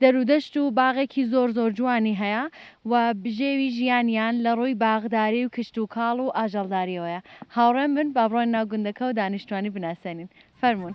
دەرودەشت و باغێکی زۆر زۆر جوانی هەیە و بژێوی ژیانیان لە ڕووی باغداری و کشتوکاڵ و ئاژەڵدارییەوەیە. هاوڕێم بن با بڕۆین ناو گوندەکە و دانیشتوانی بناسێنین. فەرموون.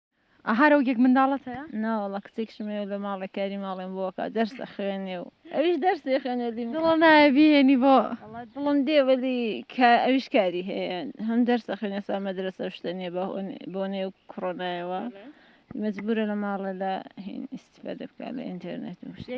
ئەها رەوگێک منداڵت هەیە؟ ناوەڵا کچێکشم هەیە لە ماڵێ کاری ماڵێم بۆ ئەکا دەرس ئەخوێنێ و ئەویش دەرس دەخوێنێ لیم دڵە نایە بیهێنی بۆ وەڵا دڵم دێ وەلی کا ئەویش کاری هەیە هەم دەرس ئەخوێنێ ئێستا مەدرەسە و شتە نییە بە بۆنەی ئەو کڕۆنایەوە مەجبوورە لە ماڵێ لە هین ئیستیفادە بکا لە ئینتێرنێت و شتێ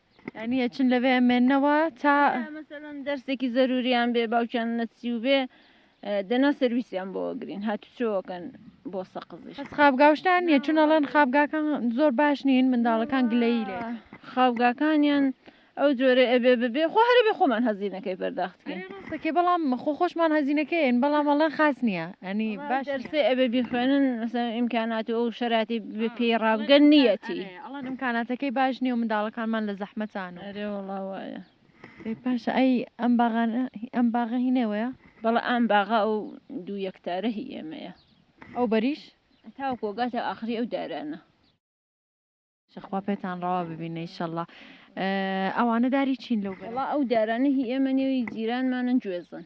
یانی ئەچن لەوێ ئەمێنەوە تا مەسەلەن دەرسێکی زەروریان بێ باوکیان نەچی و بێ دەنا سرویسیان بۆ گرین هاتوچۆکەن بۆ سەقزش خابگاوشتان نیە چون ئەڵەن خابگاکان زۆر باش نین منداڵەکان گلەیی لێ خاوگاکانیان ئەو جۆرە ئەبێ ببێ خۆ هەرە بێ خۆمان هەزینەکەی پەرداختکەین سەکێ بەڵام خۆ خۆشمان هەزینەکەین بەڵام ئەڵەن خاس نییە ئەنی باش دەرسێ ئەبێ بیخوێنن مەسەلەن ئیمکانات و ئەو شەراتی بێ پێی ڕابگەن نیەتی ئەڵێن ئمکاناتەکەی باش نیە و منداڵەکانمان لە زەحمەتان و. ئەرێ وەڵا وایە. ئەی باشە ئەی ئەم باغانە هی ئەم باغە هی نێوەیە؟ بەڵێ ئام باغە ئەو دوو یەکتارە هی ئێمەیە. ئەو بەریش؟ تاوەکو ئەگاتە ئاخری ئەو دارانە. شە خوا پێتان ڕەوا ببینێ ئیشەڵا. ئەوانە داری چین لەو بەرە؟ وەڵا ئەو دارانە هی ئێمە نیە و هی جیرانمانن گوێزن.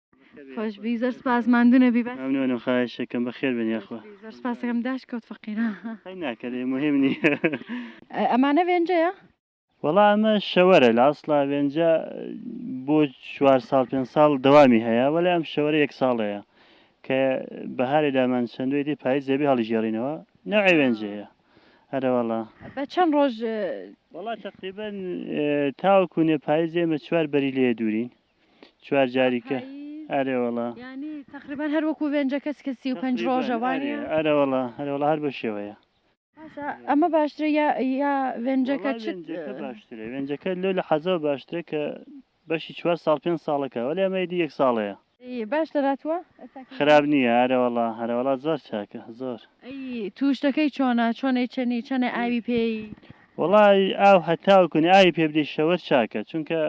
خۆش بی زۆر سپاس ماندونەبی بە ممنونم خواهشەکەم بەخێر بێن یاخوا زۆر سپاسەکەم داش کەوت فەقیرە هەی ناکەێ مهم نییە ئەمانە وێنجەیە وەڵا ئەمە شەوەرە لە ئەسڵا وێنجە بۆ چوار ساڵ پێ ساڵ دەوامی هەیە وەلا ئەم شەوەرە یەک ساڵەیە کە بەهارێ دامان چەندێتی پای زێبی هەڵیژێڕینەوە نەوێ وێنجەیە هەرەوەڵا بە چەند ڕۆژ وڵا تقریبن تاوەکوونێ پایزێمە چوار بەری لێ دوورین چوار جاری کە ئەرێ وەڵا یعنی تقریبا هەر وەکو وێنجە کەس کە سی و پەنج ڕۆژە وانە ئەرە وەڵا هەرە وەڵا هەر بە شێوەیە ئەمە باشترە یا یا وێنجەکە باشترە وێنجەکە لۆ لە حەزەوە باشترە کە بەشی چوار ساڵ پێنج ساڵەکە وەلی ئەمەیدی یەک ساڵەیە باش دەراتوە خراپ نییە ئەرەوەڵا هەرەوەڵا زۆر چاکە زۆر تووشتەکەی چۆنە چۆنەی چەنی چەنە ئاوی پێی وەڵای ئاو هەتاو کونی ئاوی پێ بدەی شەوەر چاکە چونکە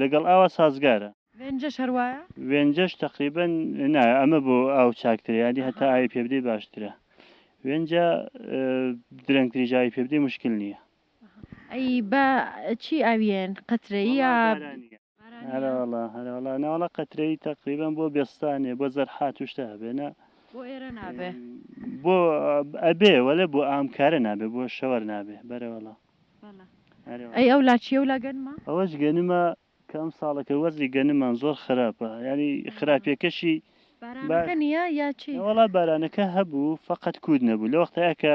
لەگەڵ ئاوا سازگارە. وێنجەش هەر وایە؟ وێنجەش تەقریبەن نا ئەمە بۆ ئاو چاکترە یانی هەتا ئاوی پێ بدەی باشترە وێنجە درەنگ تریش ئاوی پێ بدەی مشکل نییە. ئەی بە چی ئاویێن قەترەییە؟ هەرەوەڵا هەرەوەڵا ناوەڵا قەترەی تەقریبان بۆ بێستانێ بۆ زەرحات و شتە هەبێنە بۆ ئێرە نابێ بۆ ئەبێ وەلێ بۆ ئامکارە نابێ بۆ شەوەر نابێ بەرەوەڵا ئەی ئەو لاچیە و لا گەنمە ئەوەش گەنمە کە ئەم ساڵەکە وەزی گەنمان زۆر خراپە ینی خراپیەکەشی بارانەکە نییە یا چی وەڵا بارانەکە هەبوو فقط کود نەبوو لە وەختەیە کە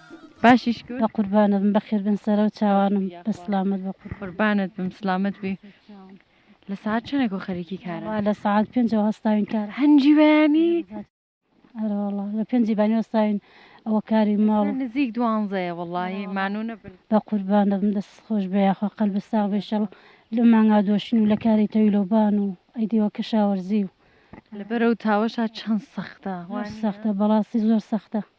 باشیش کرد. بە قوربانت بم بەخێر بێن سەرە و چاوانم بە سلامەت بە قوربان. قوربانت بم سلامەت بی لە سەعات چەنێکۆ خەریکی کارن. وەڵا لە سەعات پێنجەوە هەستاوین کار. هەنجی بەیانی؟ ئەرەوەڵا لە پێنجی بانی وەستاوین ئەوە کاری ماڵ. ئێستا نزیک دوانزەیە وەڵاهی مانوو نەبن. بە قوربانت بم دەستت خۆش بێ یاخوا قەلبت ساغ بێ ئیشەڵا لەم مانگا دۆشین و لە کاری تەویل و بان و ئەی دیوە کشاوەرزی و. لە بەرەو تاوەشا چەن سەختە. زۆر سەختە بەڕاستی زۆر سەختە.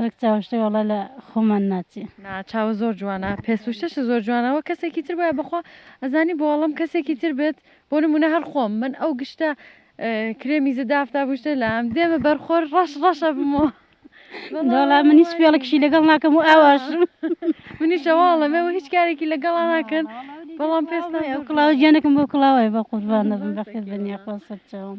وەک چاوشتە وەڵا لە خۆمان ناچێ. نا چاوە زۆر جوانە پێسوشتەشە زۆر جوانە وەک کەسێکی تر بایە بەخوا ئەزانی بۆ ئەڵێم کەسێکی تر بێت بۆ نمونە هەر خۆم من ئەو گشتە کرێمی زدافتا بوشتە لام دێمە بەرخۆر ڕەش ڕەشە بمەوە وەڵا من هیچ پێڵکشی لەگەڵ ناکەم و ئاواش منیشەواڵەمەوە هیچ کارێکی لەگەڵا ناکەن بەڵام پێستان ئەو کڵاو گیانەکەم بۆ کڵاوای بە قوربانە بم بەخێر بنیاخوا سەرچاوم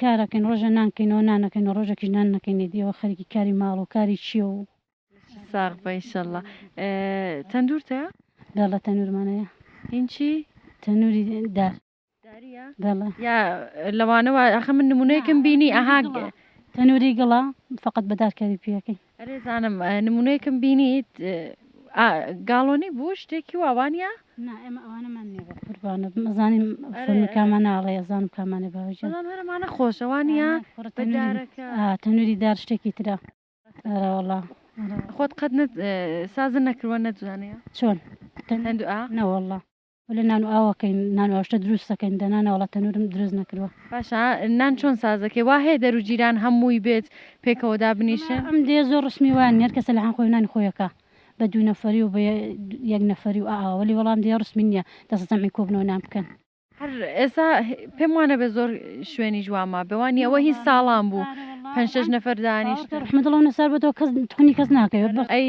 کارەکەین ڕۆژێ نان کەینەوە نانەکەینەوە ڕۆژێکیش نان نەکەینە دیەوە خەریکی کاری ماڵ و کاری چیە و. ساغبە ان شاءاللە تەندور تە. بەڵێ تەنورمانەیە. هینچی؟ تەنوری دار. داریە؟ بەڵێ. یا لەوانەوە ئەخە من نمونەیەکم بینی ئەها. تەنوری گڵە فقط بە دار کاری پێەکەین. ئەرێ زانم نمونەیەکم بینیت ئا گاڵۆنی بوو شتێکی وا وانیە؟ نا ئێمە ئەوانەمان نییە بە قوربانت مەزانین ئەرێ فەرمی ئەرێ کامان ناڵێ ئەزانم کامانێ باوجە بەڵام هەرەمانە خۆشە وانە وانیە کوڕە بە تەنووری دارەکە ئا تەنووری دار شتێکی ترە ئەرە وەڵا ئەرە وەڵا خۆت قەت نەت سازن نەکروە نەتزانیە چۆن تەن هەندوئە؟ نەوەڵا. وەلا نان و ئاوەکەین نان و ئاشتە دروست دەکەین دەنا ناوەڵا تەنورم دروست نەکردوە. باشە نان چۆن سازەکەی وا هەیە دەرو جیران هە مووی بێت پێکەوە دابنیشن. ئەم دێ زۆر ڕسمی وایە نیە هەرکەسە لەحان خۆی نانی خۆیەکا بە دوو نەفەری و بە یەک نەفەری و ئائا وەلی وەڵام دێ ڕسمی نیە دەسە جەمعی کۆبنەوە نان بکەن. هەر ئێسا پێم وانەبێ زۆر شوێنیش وا مابێ وا نیە ئەوە هی ساڵان بوو پەنج شەش نەفەر دانیشتن. ڕەحمەت اللە و نەسار بۆتەوە کەس تخنی کەس ناکەوێ. ئەی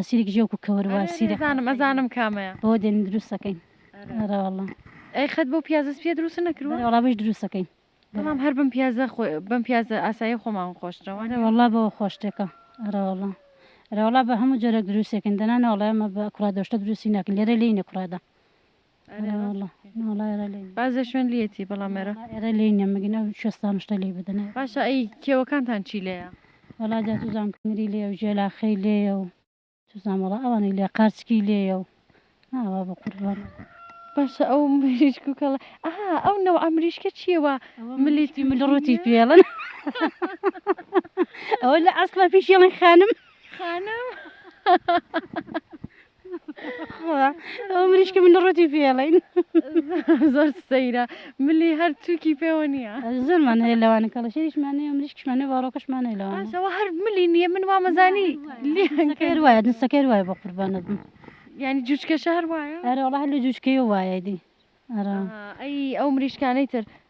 عسیرێک ژێ وەکو کەوەر وا ئەرێ سیرە ئەزانم ئەزانم کامەیە بەوە دێنین دروستەکەین ئەرێ واللە ئەی قەت بەو پیازە سپیە دروستە نەکرووە؟ بەرێ وەڵا بەش دروستەکەین بەڵام هەر بەم پیازە خۆ بەم پیازە ئاسایی خۆمان خۆشترە وانیە؟ ئەرێ وەڵا بەوە خۆشتێکە ئەرێ وەڵا ئەرێ وەڵا بە هەموو جۆرێک دروستەکەین دەنا نەوەڵێ ئێمە بە کوڕادۆشتە دروستی ناکەین لێرە لێی نەکوڕێدا ئەرێ وەڵا ناڵا ئێرە لێ نیە. باس لە شوێن لیەتی بەڵام ئێرە. ناڵا ئێرە لێی نیە مگین ئەو شێستانە شتە لێی بدەن ئێرە. باشە ئەی کێوەکانتان چی لێیە؟ وەڵا جا چوزانم کەمری لێیە و ژێلاخەی لێیە و چوزانم وەڵا ئەوانەی لێیە قارچکی لێیە و ئاوا بەقوربان. باشە ئەو مریشک و کەڵە ئەها ئەو نەوعە مریشکە چیە وا ملیت ئەوە مل ڕوتی پێڵن ئەوە لە ئەسڵا پێشیڵن خانم خانم. خوا ئەو مریشکە من ڕەتی پێڵین زۆر سەیرە ملی هەر تووکی پێوە نییە زۆرمان هەیە لەوانە کەڵەشێریشمانێ مریشکشمانێ باڕۆکەشمانێ لەوانەوە هەر ملی نییە من وامەزانی لەکەر وایە دەسەکەر وایە بە قوربانە بم ینی جوچکە شار وایە ئەرەڵە هەر لە جوچکەی وایە دی ئەرا ئەی ئەو مریشکانەی تر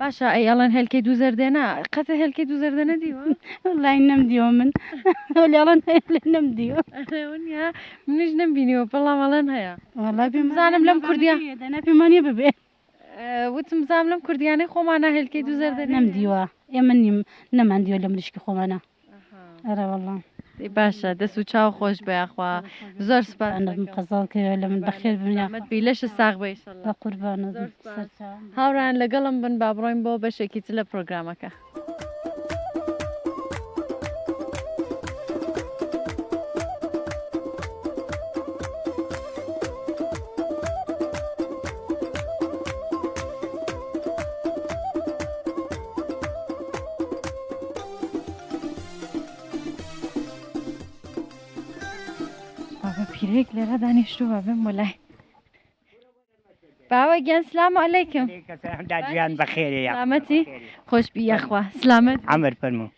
باشە ئەی ئەڵێن هێلکەی دوو زەردێنە قەتە هێلکەی دوو زەردەنە دیوە لای نەم دیوە من لەڵەن نەم دیوە منیش نەم بینیوە بەڵام ئەڵەن هەیە بزانم لەم کوردیا دەنا پێمانە ببێ وتم زام لەم کوردیانەی خۆمانە هێلکەی دوو زەردە نەم دیوە ئێمە نیم نەمان دیوە لە مریشکی خۆمانە ئەرەوەڵا ای باشە دەس و چاو خۆش بە یاخوا زۆر سپاس ئەنەم قەزاڵ کەوێ لە من بەخێر بن یاخوا سلامەت بی لەشە ساغ بە ئیشەڵا بە قوربانت زۆر سپاس. سەرچاوم هاوڕێیان لەگەڵم بن با بڕۆین بۆ بەشێکی تر لە پرۆگرامەکە. بابە پیرێک لێرە دانیشتو بە بم وەلای باوە گیان سلام علیکم دادیان بەخێرێ سلامەتی خۆش بی یاخوا سلامەت ئەمر فەرمو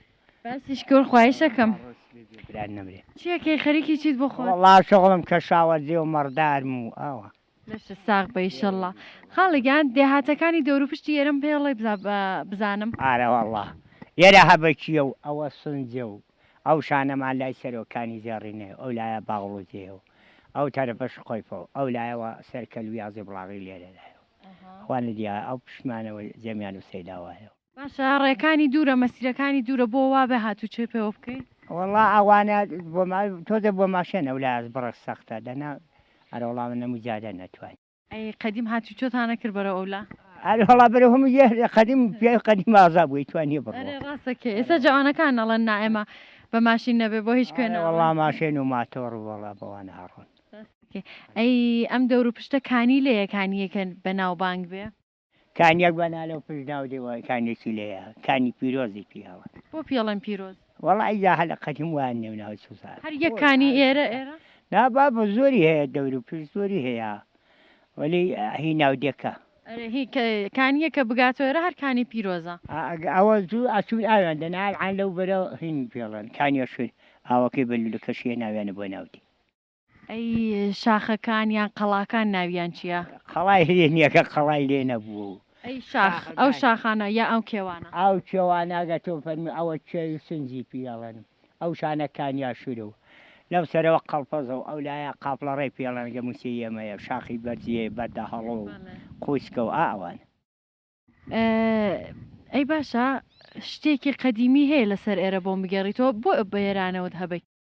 باسی شکۆر خوایشەکەم چیەکەی خەریکی چیت بۆ خۆ وڵا شەغڵم کە شاوەزێ و مەڕدارم و ئاوە لەشت ساغ بئ ئیشەڵا. خاڵە گیان دێهاتەکانی دەوروپشتی ئێرەم پێڵێ بزا بزانم. ئارەوەڵا ئێرە هەبەکیە و ئەوە سنجە و ئەو شانەمان لای سەرۆکانی زێڕینەیە و ئەو لایە باغڵوزێیە و ئەو تەرەفە شقۆیفە و ئەو لایەوە سەر کەلویازی بڵاغی لێرە لایە و ئەوانە دیارە ئەو پشتمانەوە جەمیان و سەیداوایە و. باشە ڕێکانی دوورە مەسیرەکانی دوورە بۆ وابێ هاتوچۆی پێوە بکەی. وەڵا ئەوانە تۆزێ بۆ ماشێن ئەو لایەش بڕە سەختە دەنا ئەرە وەڵا من ئەموو جادە نەتوانی. ئەی قەدیم هاتوچۆتان نەکرد بەرەو ئەولا. ئەرێ وەڵا بەرەو هەموو یەر قەدیم پیاوی قەدیم ئازا بووی توانیە بڕۆ. ئەرێ ڕاست دەکەی ئێستا جەوانەکان ئەڵێن نا ئێمە بە ماشین نەبێ بۆ هیچ کوێ ناڕۆین. ئەرێ وەڵا ماشێن و ماتۆڕ وەڵا بەوانە ئەڕۆن. ڕاست دەکەی ئەی ئەم دەورو پشتە کانی لە یەکانی یەکە بەناوبانگ بێ. کانیەک بە نالە و پشت ناو دێوە کانیەکی لێیە کانی پیرۆزی پیاوە. بۆ پیڵێن پیرۆز؟ وەڵا ئیجا هە لە قەدیم وایان نێو ناوە چ زاڕ. هەر یەک کانی ئێرە ئێرە؟ نا بابە زۆری هەیە دەور و پشت زۆری هەیە وەلی هی ناودێکە. ئەرێ هی کە کانیە کە بگاتۆ ئێرە هەر کانی پیرۆزە. ئا ئەگە ئەوە زوو ئەچوون ئاویان دەنا ئەلعان لەو بەرە هین پیڵێن کانیە شوێن ئاوەکەی بە لولەکەشی هێناویانە بۆ ناو دێ. ئەی شاخەکان یان قەڵاکان ناویان چیە؟ قەڵای لێ نیە کە قەڵای لێ نەبووە و. ئەی شاخ ئەو شاخانە یا ئەو کێوانە؟ ئەو کێوانە ئەگەر تۆ فەرمووی ئەوە کێوی و سنجی پی ئەڵێن و ئەو شانە کانیا شورە و لەو سەرەوە قەڵپەزە و ئەو لایە قاپڵەڕێ پی ئەڵێن ئەگەر مووچەی ئێمەیە شاخی بەرزیی بەردە هەڵۆ و قووچکە و ئا ئەوانە. ئەی باشە شتێکی قەدیمی هەیە لەسەر ئێرە بۆم بگێڕیتەوە بۆ بە ئێرانەوەت هەبەی؟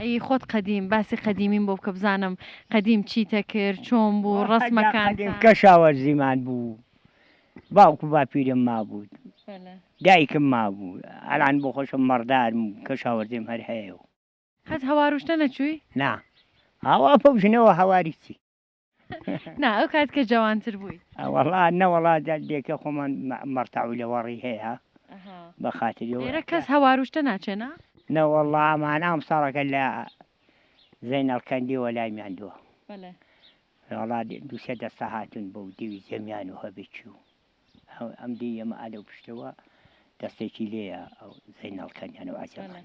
ئەیی خۆت قەدیم باسی قەدیمیم بۆ بکە بزانم قەدیم چیتە کرد چۆن بوو ڕەسمەکان قەدیم کەشاوەرزیمان بوو باوک و باپیرم مابوو دایکم مابوو ئەلان بۆ خۆشم مەڕدارم و کەشاوەرزیم هەر هەیە و قەت هەوار و شتە نەچووی؟ نا هاوا پەوژنەوە هەواری چی؟ نا ئەو کات کە جوانتر بووی ئەوەڵا نەوەڵا دەردێکە خۆمان مەڕتاوی لەوەڕی هەیە بە خاتری لێرە کەس هەواروشتە ناچێنە نەوەڵا ئەمان ئەم ساڵەکە لە زەینەڵکەندی وەلای میاندووە وڵا دووسێ دەستا هاتون بۆ دیوی زەمیان و هەبێکی و ئەم دی ئەمە ئالە و پشتەوە دەستێکی لێە ئەو زەینەڵکەندیان و عجەمان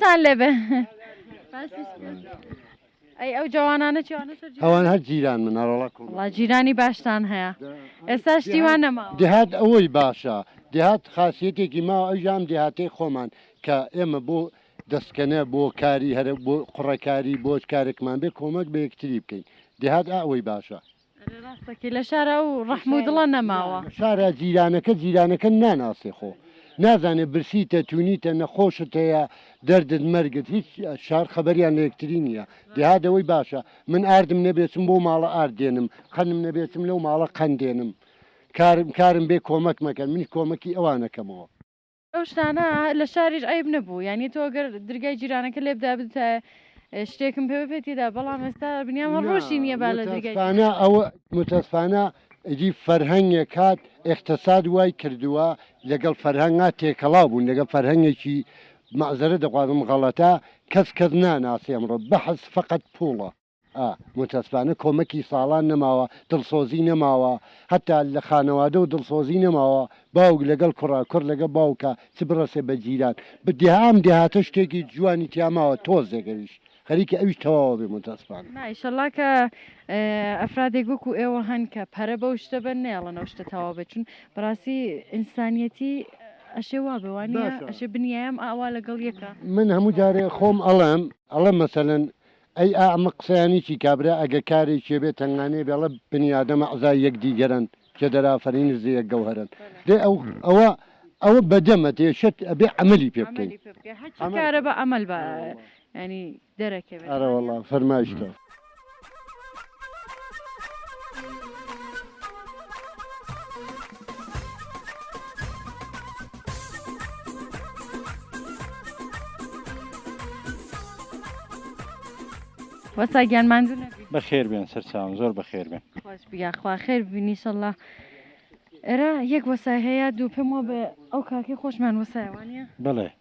تان لێ بێ ئەی ئەو جوانانە چیوانە سەر جیران؟ ئەوان هەر جیران من هەرۆڵە کوم وڵا جیرانی باشتان هەیە ئێستا شتیوان نەما دهات ئەوەی باشە دهات خاصیتێکی ما ئەژام دهاتەی خۆمان کە ئێمە بۆ دەستکەنە بۆ کاری هەرە بۆ قوڕەکاری بۆچ کارێکمان بێ کۆمەک بە یەکتری بکەین دهات ئەوەی باشە ئەرێ ڕاست دەکەی لە شارا ئەو ڕەحم و دڵە نەماوە. لە شارا جیرانەکە جیرانەکە ناناسێ خۆ نازانێ برسیتە تونیتە نەخۆشت هەیە دەردت مەرگت هیچ شار خەبەریان لە یەکتری نیە دێهات ئەوەی باشە من ئاردم نەبێ چم بەو ماڵە ئارد دێنم قەنم نەبێ چم لەو ماڵە قەن دێنم کارم کارم بێ کۆمەکمەکەن منیش کۆمەکی ئەوان ئەکەمەوە. ئەو شتانە لە شاریش عیب نەبوو یعنی تۆ گەر درگای جیرانەکە لێ بدا بتە شتێکم پێ بپێتیدا بەڵام ئێستا بنیام هەر ڕۆژی نییە با لە درگای متاسفانە ئەوە متاسفانە ئیدی فەرهەنگێک هات ئێقتەساد وای کردووە لەگەڵ فەرهەنگا تێکەڵاو بوون لەگەڵ فەرهەنگێکی مەعزەرەت دەخوازم غەڵەتە کەس کەس ناناسێ ئەمڕۆ بەحس فەقەت پووڵە. ئا متاسفانە کۆمەکی ساڵان نەماوە دڵسۆزی نەماوە هەتا لە خانەوادەو دڵسۆزی نەماوە باوک لەگەڵ کوڕە کوڕ لەگە باوکە چ بڕەسێ بە جیران بە دێهە ئەم دێهاتە شتێکی جوانی تیا ماوە تۆزێک ئەویش خەریکە ئەویش تەواوە بێ متاسفانە. نا ئیشەڵا کە ئەفرادێک وەکو ئێوە هەن کە پەرە بەو شتە بەن نەیەڵن ئەو شتە تەواو بێت چون بەڕاستی ئینسانیەتی ئەشێ وا بێ وا نیە باشە. ئەشێ بنیایەم ئاوا لەگەڵ یەکە. من هەموو جارێ خۆم ئەڵێم ئەڵێم مەسەلەن ئەی ئا ئەمە قسەیانی چی کابرا ئەگە کارێکێ بێ تەنگانێ بێڵە بنی ئادەم ئەعزای یەک دیگەرن کێ دەرافەرین نزدە یەک گەوهەرن دەی ئەو ئەوە ئەوە بەدەمە دێشێت ئەبێ عەمەلی پێ بکەین عەمەلی پێ بکەی هەرچی عەمەل کارە بە عەمەل با ئەرە وەڵا یانی دەرەکەوێ ئەرە وەڵا دەوانیە. فەرمایش کە. وەستا گیان ماندوو نەبی بەخێر بێن سەرچاوم زۆر بەخێر بێن خۆش بیا خوا خێر ببینی شەڵا ئێرە یەک وەسای هەیە دوو پێم وە بە ئەو کاکەی خۆشمان وەسایوانە بڵێ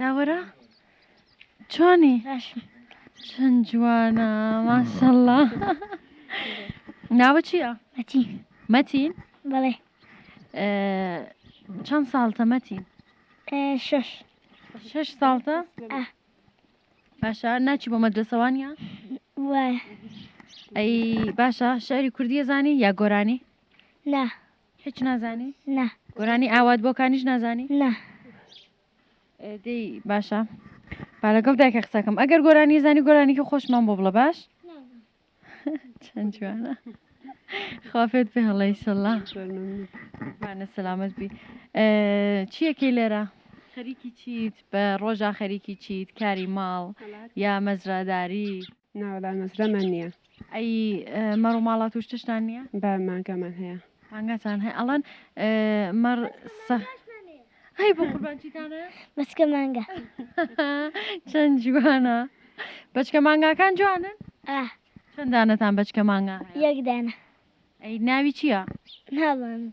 داوەرە چۆنی چەند جوانە ماشەڵڵا ناوە چییە؟ مەتین مەتین بەڵێ چەند ساڵتە مەتین شش شش ساڵتە باشە ناچی بۆ مەدرسەوانە وایە ئەی باشە شاری کوردیە زانی یا گۆرانی نا هیچ نازانی نا گۆرانی ئاوات بۆکانیش نازانی نا دەی باشە با لەگەڵ دایکە قسەکەم ئەگەر گۆرانی زانی گۆرانیکی خۆشمان بۆ بڵە باش چەند جوانە خوافێت پێ هەڵی سەڵا بانە سەلامت بی چیەکەی لێرە خەریکی چیت بە ڕۆژە خەریکی چیت کاری ماڵ یا مەزراداری ناوەلا مەزرەمان نییە ئەی مەڕ و ماڵات و شتشتان نییە؟ بە مانگامان هەیە. مانگاتان هەیە ئەڵەن مەڕ سە هەی بۆ قوربان چیتان هەیە؟ بەچکە مانگا چەند جوانە بەچکە مانگاکان جوانن ئاه چەند دانەتان بەچکە مانگا هەیە؟ یەک دانە ئەی ناوی چییە؟ نازانم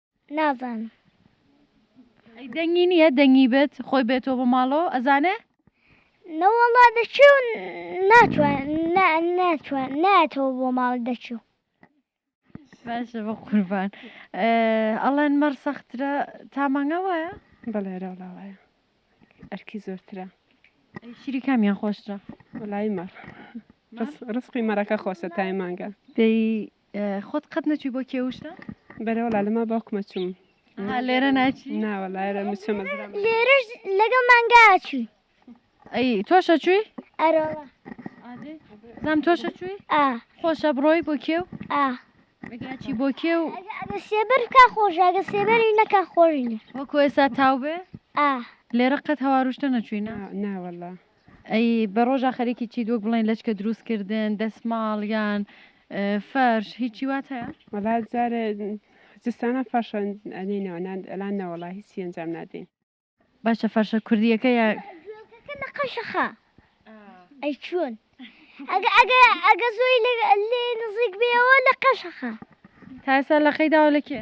نازانم ئەی دەنگی نییە دەنگی بێت خۆی بێتەوە بۆ ماڵەوە ئەزانێ نەوەڵا دەچێ و ناتوان ناتوان ناتەوە بۆ ماڵ دەچێ و باشە بە قوربان ئەڵەن مەڕ سەخترە تا مانگا وایە بەڵێراولا وایە ئەرکی زۆرترە شیری کامیان خۆشترە وەلای مەڕ ڕسقی مەرەکە خۆشە تای مانگە دەی خۆت قەت نەچوی بۆ کێوشە؟ بەرە وەڵا لەما باوکمە چوم ها لێرە ناچی ناوە لایرە مچە مەزرا لێرەش لەگەڵ مانگا چوی ئەی تۆشە چوی ئەرۆڵە زام تۆشە چوی خۆشە بڕۆی بۆ کێو ئاگاچی بۆ کێ و سێبەر کا خۆشاگە سێبەری نەکە خۆشینە وەکو ئێستا تاو بێ لێرە قەت هەواروشتە نەچوینە ناوەڵە ئەی بە ڕۆژا خەریکی چیت وەک بڵێن لەچکە دروست کردن دەسماڵ یان فەرش هیچی وات هەیە وەڵا جارێ جستانە فەرشەن ئەدەینەوە نان ئەلان نەوەڵا هیچی ئەنجام نادەین باشە فەرشە کوردیەکە یا نەقەشەخە ئەی چۆن ئەگە ئەگە ئەگە زۆی لێ نزیک بێەوە لە قەشەخە تاسا لە قەیداوە لە کێ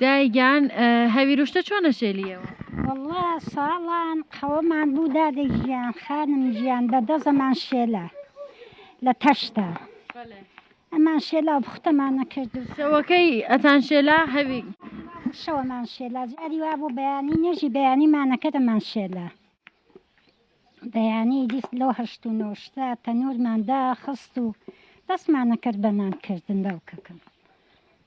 دایە گیان هەویروشتە چۆن ئەشێلیەوە. وەڵا ساڵان قەوەمان بوو دادە گیان خانم گیان بە دەزەمان شێلا لە تەشتا ئەمان شێلا بختەمان نەکرد و شەوەکەی ئەتان شێلا هەوی شەوەمان شێلا جاری وا بوو بەیانی نوێژی بەیانی مانەکەتەمان شێلا بەیانی دیست لەو هەشت و نۆشتا تەنورمان داخست و دەستمان نەکرد بەنان کردن باوکەکەم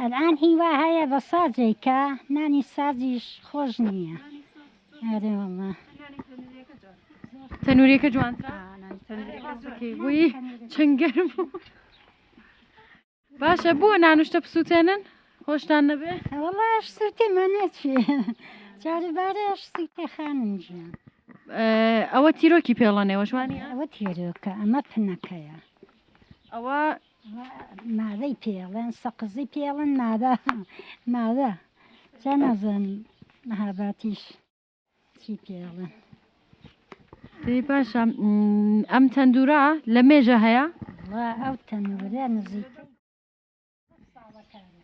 ئەلئان هی وا هەیە بە سازێک کە نانی سازیش خۆش نییە ئەرێ وەڵا. تەنوریەکە جوانترە بووی چەند گەرم بوو. باشە بۆ نانوشتە بسووتێنن خۆشتان نەبێ وەڵاش سووتێ مەنەچێ جاری بارەش سووتێ خانم گیان ئە، ئەوە تیرۆکی پێڵەنێوە جوانی ئەوە تێرۆکە ئەمە پنەکەیە ئەوە مادەی پێڵێن سەقزی پێڵن مادە مادە جا نازانی مەهاباتیش چی پێڵن دەی باشە ئەم تەندورا لە مێژە هەیە ئەو تەنورە نزیک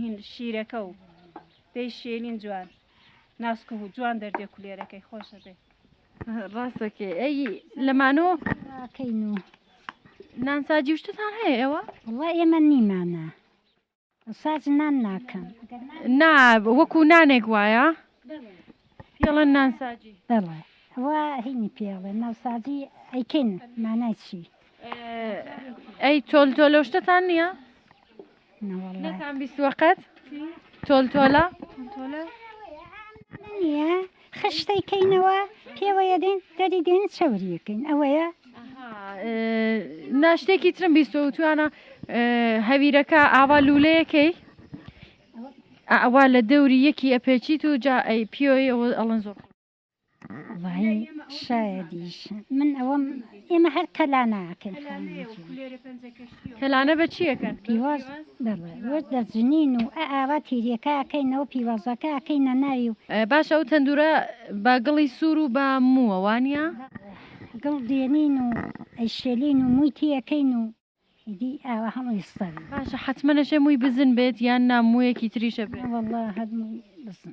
هین شیرەکە و دەی شێلین جوان ناسکە و جوان دەردێ کولێرەکەی خۆشە بێ ڕاستەکێ ئەی لەمانۆ کەین و نانساجی شتتان هەیە ئێوە وڵا ئێمە نیمانە ساز نان ناکەم نا وەکو نانێک وایە پێڵەن نانساجی بەڵێ ئەوە هینی پێڵێ ناوسازی ئەیکەین مانای چی ئەی تۆل تۆلۆشتتان نییە نەتان بیستوە قەت تۆل تۆلە نیە خشتەی کەینەوە پێوەیە دێن دەری دێن چەوریەکەین ئەوەیە ناشتێکی ترم بیستۆ توانە هەویرەکە ئاوا لولەیەکەی ئەوا لە دەوری یەکی ئەپێچیت و جا ئەی پیۆی ئەڵەن زۆر وەی شایەدیش من ئەوەم ئێمە هەر تەلاناکەن تەلانە بە چیەکەن پیواز وەت دەزنین و ئاوا تیریەکەکەینەوە پیوازەکەکەینە ناوی و باش ئەو تەندورە بە گڵی سوور و بە مووەوانە گڵ دێنین و ئەیشێلین و مووی تیەکەین و دی ئاوا هەموو ئێستا باشە حتممە نەشێ مووی بزن بێت یان ناموویەکی تریشە بێت وڵە هەمووی بزن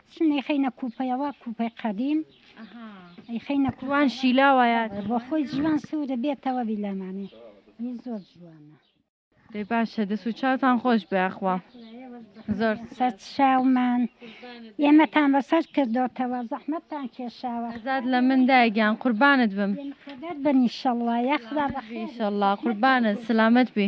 چون ئەیخەینە کوپەیەوە کوپەی قەدیم ئەیخەینە کوان شیلاوایە بۆ خۆی جوان سوورە بێتەوە بیلامانێ ی زۆر جوانە دەی باشە دەست و چاوتان خۆش بێ ئەخوا زۆر سەر چاومان ئێمەتان بەسەر کردۆتەوە زەحمەتتان کێشاوە زاد لە من دایگیان قوربانت بم خەبەر بن ئیشەڵڵا یا خوا بەخێر ئیشەڵڵا قوربانت سلامت بی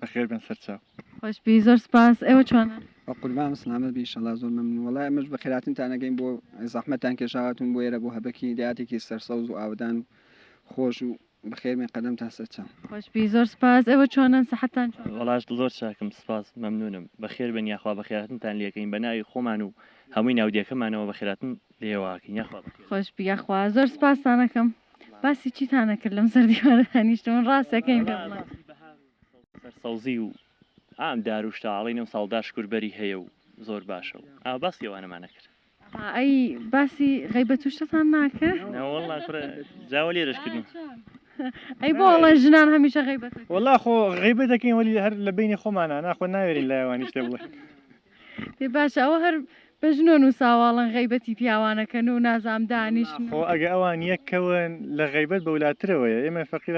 بەخێر بێن سەرچاو. خۆش بی زۆر سوپاس ئێوە چۆنن؟ بەقوربان سلامەت بی ئیشەڵا زۆر مەمنون وەڵا ئێمەش بەخێراتنتان ئەگەین بۆ زەحمەتتان کێشا هاتون بۆ ئێرە بۆ هەبەکی دێهاتێکی سەرسەوز و ئاوەدان و خۆش و بەخێر بێن قەدەمتان سەرچاو. خۆش بی زۆر سوپاس ئێوە چۆنن سەحەتتان چۆنە؟ وەڵا زۆر چاکم سوپاس مەمنونم. بەخێر بێن یاخوا بەخێراتنتان لێکەین بەناوی خۆمان و هەمووی ناودێکەمانەوە بەخێراتن. لێواکن یاخوا بەخێربێن. خۆشبی یاخوا زۆر سپاستان ئەکەم باسی چیتان نەکرد لەم سەر دیوارە دانیشتم من ڕاست ئەکەین پێم بڵێن. باسی بەهار و سەرسەوزی و عام دار و شتە ئەڵێن ئەمساڵ دار شکور بەری هەیە و زۆر باشە و ئاوا باسی ئەوانەمان نەکرد. ئەها ئەی باسی غەیبەت و شتتان ناکە. نەوەڵا کورە جا وە لێرەش کردم. ئەی بۆ ئەڵێن ژنان هەمیشە غەیبەت ئەکەن. وەڵا خۆ غەیبەت ئەکەین وەلی هەر لە بەینی خۆمانا نا خۆ ناوێرین لای ئەوانی شتێ بڵێین. دەی باشە ئەوە هەر بە ژنۆ نووساواڵن غیبەتی پیاوانەکەن و نازام دانیش خۆ ئەگە ئەوان یەکەون لە غیبەت بەولاترەوەیە ئێمە فەقیر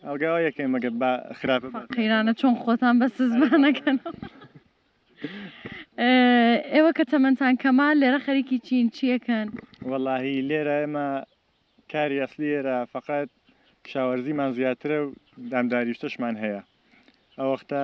ئەڵگاوا یەکەین مەگە با خراپ قەیرانە چۆن خۆتان بە سزمانەکەن ئێوە کە تەمەندان کەما لێرە خەریکی چین چیەکەن وەڵاهی لێرە ئێمە کاری ئەسلی ئێرە فقط کشاوەرزیمان زیاترە و دامداریشتشمان هەیە ئەوەختە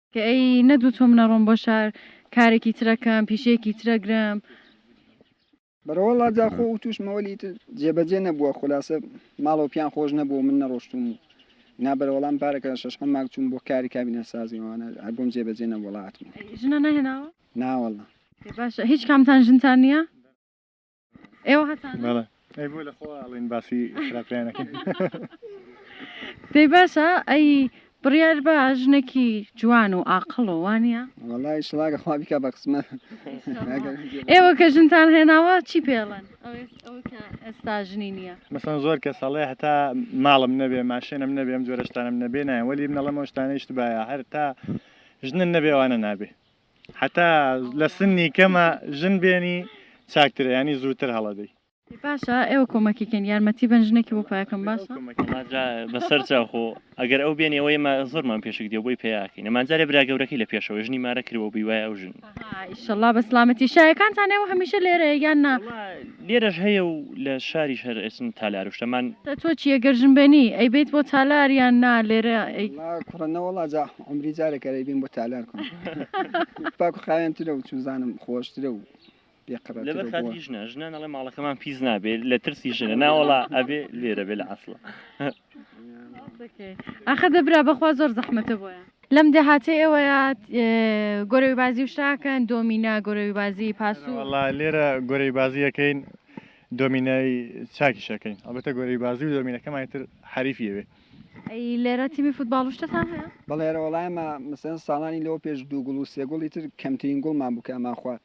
کە ئەی نەدوو تۆم نەڕۆم بۆ شار کارێکی ترە کەم پیشەیەکی ترە گرم. بەرەوەڵا جا خۆ وتوش مەوەلی تر جێبەجێ نەبووە خولاسە ماڵەوە پیان خۆش نەبوو من نەڕۆشتوم و نا بەرەوەڵام پارەکە شەشحەم ماک چووم بۆ کاری کابینە سازی وانە هەر بۆم جێبەجێ نەبووڵا ئەتموو. ژنە نەهێناوە؟ نا وەڵا. باشە هیچ کامتان ژنتان نییە؟ ئێوە هەتان بەڵێ ئەی بۆ لە خۆ ئاڵین باسی خراپیانەکەن دەی باشە ئەی بڕیار بە ژنێکی جوان و ئاقڵ و وانە وڵی شڵاگە خوا بیکە بە قسمە ئێوە کە ژنتان هێناوە چی پێڵێن ئێستا ژنی نییە مەسەن زۆر کە ساڵێ هەتا ماڵم نەبێ ماشێنم نەبێم جۆرەشتانم نەبێ نایە وەلی منەڵەمەشتانە شتبایە هەر تا ژنن نەبێوانە نابێ هەتا لە سنی کەمە ژن بێنی چاکترە یانی زووتر هەڵەدەی. ئەی باشە ئێوە کۆمەکی کەین یارمەتی بەن ژنێکی بۆ پەیا کەم باشە. وەڵا جا بەسەر جا خۆ ئەگەر ئەو بێنی ئەوە ئێمە زۆرمان پێشک دێ و بۆی پەیا ئەکەین ئەمان جارێ برا گەورەکەی لە پێشەوەی ژنی مارە کروە و بی وایە ئەو ژن. ئەها ئیشەڵا بە سڵامەتی شایەکانتان ئێوە هەمیشە لێرەیە یان نا. وەڵا لێرەش هەیە و لە شاریش هەر ئەچن تالار و شتە مان. تۆ چی ئەگەر ژن بێنی ئەیبەیت بۆ تالار یان نا لێرە ئەی. وەڵا کوڕە نەوەڵا جا. عەمری جارێک ئەرێ بێم بۆ تالار کۆن پاک و خاوێنترە و چوزانم خۆشترە و بێقڕەترە لەبەر و خاتری بۆ- ژنە ژنان ئەڵێ ماڵەکەمان پیس نابێت لە ترسی ژنە ناوەڵا ئەبێ لێرە بێ لە عەسڵە ئاخە دەبرا بەخوا زۆر زەحمەتە بۆیان لەم دێهاتەی ئێوەیە گۆرەوی بازی و شاکەن دۆمینە گۆرەوی بازی پاسوو وەڵا لێرە گۆرەی بازیەکەین دۆمینای چاکیشەکەین ئەڵبەتە گۆرەی بازی و دۆمینەکەمانی تر حەریفیەوێ ئەی لێرە تیمی فوتباڵ و شتتان هەیە؟ بەڵێ لێرە وەڵا ئێمە مەسەلەن ساڵانی لەوە پێش دوو گوڵ و سێ گوڵی تر کەمترین گوڵمان بوو کە ئەمانخوارد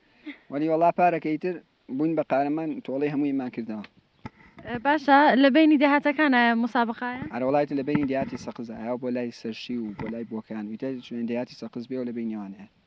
وەلی وەڵا پارەکە ئیتر بووین بە قارەمان تۆڵەی هەموویمان کردەوە. باشە لە بەینی دێهاتەکان ئایا موسابەقایە؟ ئەرە وەڵا ئیتر لە بەینی دێهاتی سەقزە ئایا بۆ لای سەرشی و بۆ لای بۆکان و ئیتر دێهاتی سەقز بێ و لە بەینیەوان هەیە.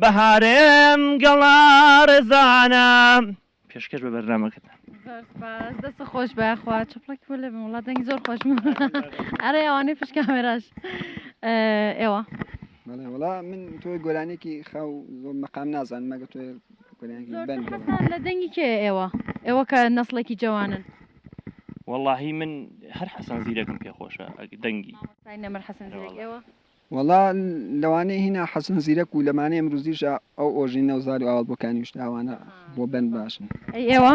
بەهارێم گەڵا ڕێزانە پێشکەش بە بەرنامەکەتان. زۆر سپاس دەست خۆش بە خوا چپڵەکی بۆ لێبم وڵات دەنگی زۆر خۆش ئەرێ ئەوانەی پشت کامێراش ئێوە بەڵێ وڵا من تۆی گۆرانێکی خاو زۆر مەقام نازان مەگە تۆ لە دەنگی کێ ئێوە ئێوە کە نەسڵێکی جوانن واللهی من هەر حەسەن زیرەکم پێ خۆشە دەنگی نەمر حەسەن زیرەک ئێوە وەڵا لەوانەیە هینا حەسەن زیرەک و لەمانەی ئمروزیشا ئەو ئۆژینە و زاری و ئاوەڵ بۆکانی وشتە ئاوانە بۆ بەند باشن. ئەی ئێوە؟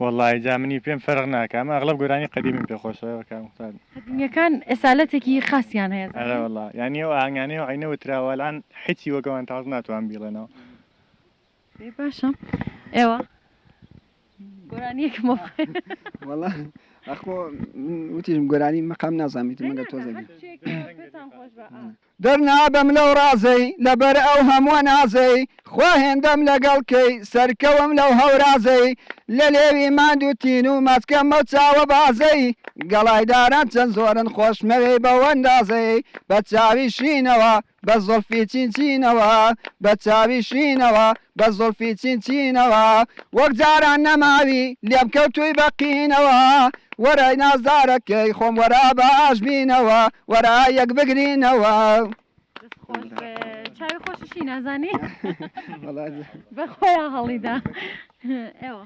وەڵاهی جا منی پێم فەرق ناکا ئەمە ئەغلەب گۆرانی قەدیمیم پێ خۆشە کاک موختار. قەدیمیەکان ئەسالەتێکی خاسیان هەیە زانی. ئەرە وەڵا یانی ئەو ئاهەنگانەی ئەو عەینە وتراوە ئەلان حیچی وەک ئەوان تاز ناتوان بیڵێنەوە. ئێ باشە ئێوە گۆرانیەکم بۆ بخوێنن وەڵا ئەخۆ من وتیشم گۆرانی مەقام نازانم ئیتر مەگەر تۆزێک هەر شتێک پێتان خۆش بە ئا. دەرنابەم لەو ڕازەی لەبەر ئەو هەمووە نازەی خوا هێندەم لەگەڵ کەی سەرکەوم لەو هەورازەی لە لێوی ماند و تین و مەچکەم ئەو چاوە بازەی گەڵای داران چەند زۆرن خۆشمەوێی بەو ئەندازەی بە چاوی شینەوە بە زوڵفی چین چینەوە بە چاوی شینەوە بە زوڵفی چین چینەوە وەک جاران نەماوی لێم کەوتووی بە قینەوە وەرای نازدارەکەی خۆم وەرا با ئاش بینەوە وەرا یەک بگرینەوە. دەست خۆش بێ چاوی خۆشیشی نازانی بە خۆیان هەڵیدا ئێوە.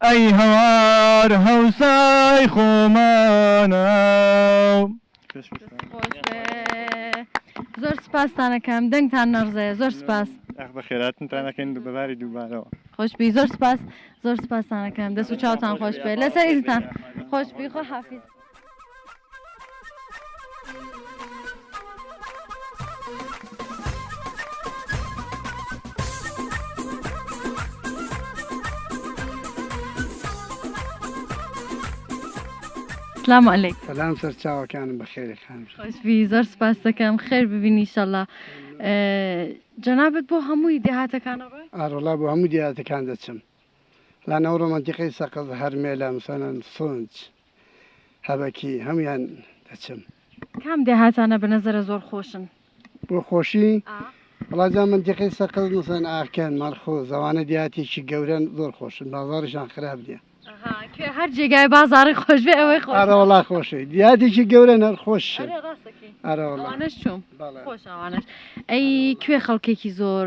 ئەی هەوار هەوسای خۆمانە و. زۆر سوپاستان ئەکەم دەنگتان نەڕزێ زۆر سوپاس. ئاخ بەخێراتنتان ئەکەین بە باری دووبارەوە. خۆشبی زۆر سوپاس زۆر سوپاستان ئەکەم دەست و چاوتان خۆش بێت لەسەر ئیزنتان خۆشبی خواحافیز. سلام علیک سلام سەرچاوەکانم بەخێری خان خۆشبی زۆر سپاس دەکەم خێر ببینی شەڵا جەنابەت بۆ هەمووی دێهاتەکانەڕۆی ئارۆڵا بۆ هەموو دێهاتەکان دەچم لە ناو ڕۆمانتیقەی سەقز، هەرمێلا، مسەنەن، سونج، هەبەکی هەموویان دەچم. کام دێهاتانە بە نەزەرە زۆر خۆشن؟ بۆ خۆشی؟ ئا. وەڵا جا مەنتیقەی سەقز، مسەنەن، ئاکەن، مەرخۆ، زەوانە دێهاتێکی گەورەن زۆر خۆشن بازاڕیشان خراپ نیە. ئەها کوێ هەر جێگای بازاڕی خۆش بێ ئەوەی خۆشە. ئەرە وەڵا خۆشە دێهاتێکی گەورەن هەر خۆشن. ئەرێ ڕاستەکەی. ئەرە وەڵا. ئەوانەش چووم. بەڵێ. خۆشە ئەوانەش. ئەی کوێ خەڵکێکی زۆر.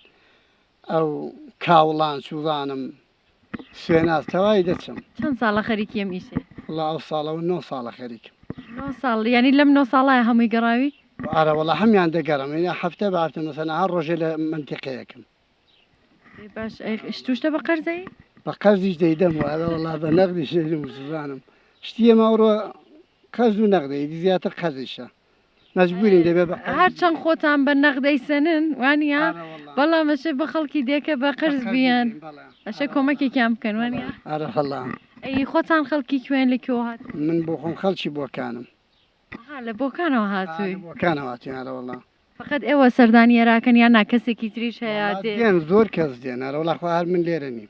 ئەو کاوڵان چووانم سوێناز تەوای دەچم چەند ساڵە خەریکی ئەم ئیشێ وڵا ئەو ساڵە و نۆ ساڵە خەریکم نۆ ساڵ یعنی لەم نۆ ساڵە هەمووی گەڕاوی ئارە وڵا هەمیان دەگەڕم وینە هەفتە بارتە مەسەنا هەر ڕۆژێ لە منتیقەیەکم ئەی باش ئەی شتوشتە بە قەرزەی بە قەرزیش دەیدەم و ئارە وڵا بە نەغدی شێرم زوانم شتیە ماوڕۆ قەرز و نەغدەی زیاتر قەرزیشە مەجبورین دەبێ بە قەرز هەر چەند خۆتان بە نەق دەیسەنن وانە ئارە وەڵا بەڵا مەشێ بە خەڵکی دێکە بە قەرز قەرز بیان بدەین، بەڵێ. ئەشێ کۆمەکێکیان بکەن وانە ئارە هەڵا ئەی خۆتان خەڵکی کوێن لە کوێوە هات من بۆ خۆم خەڵکی بۆکانم ها لە بۆکانەوە ئارە هاتووی بۆکانەوە هاتووین ئارە وەڵا فەقەت ئێوە سەردانی ئێراکەن یان نا کەسێکی تریش هەیە وەڵا دێ دێن زۆر کەس دێن ئارە وەڵا خۆ هەر من لێرە نیم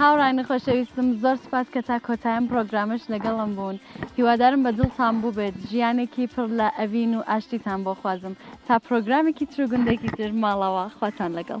هاوڕایانی خۆشەویستم زۆر سوپاس کە تا کۆتای ئەم پڕۆگرامەش لەگەڵم بوون هیوادارم بە دڵتان بووبێت ژیانێکی پڕ لە ئەڤین و ئاشتیتان بۆ خوازم تا پرۆگرامێکی تر و گوندێکی تر ماڵەوە خواتان لەگەڵ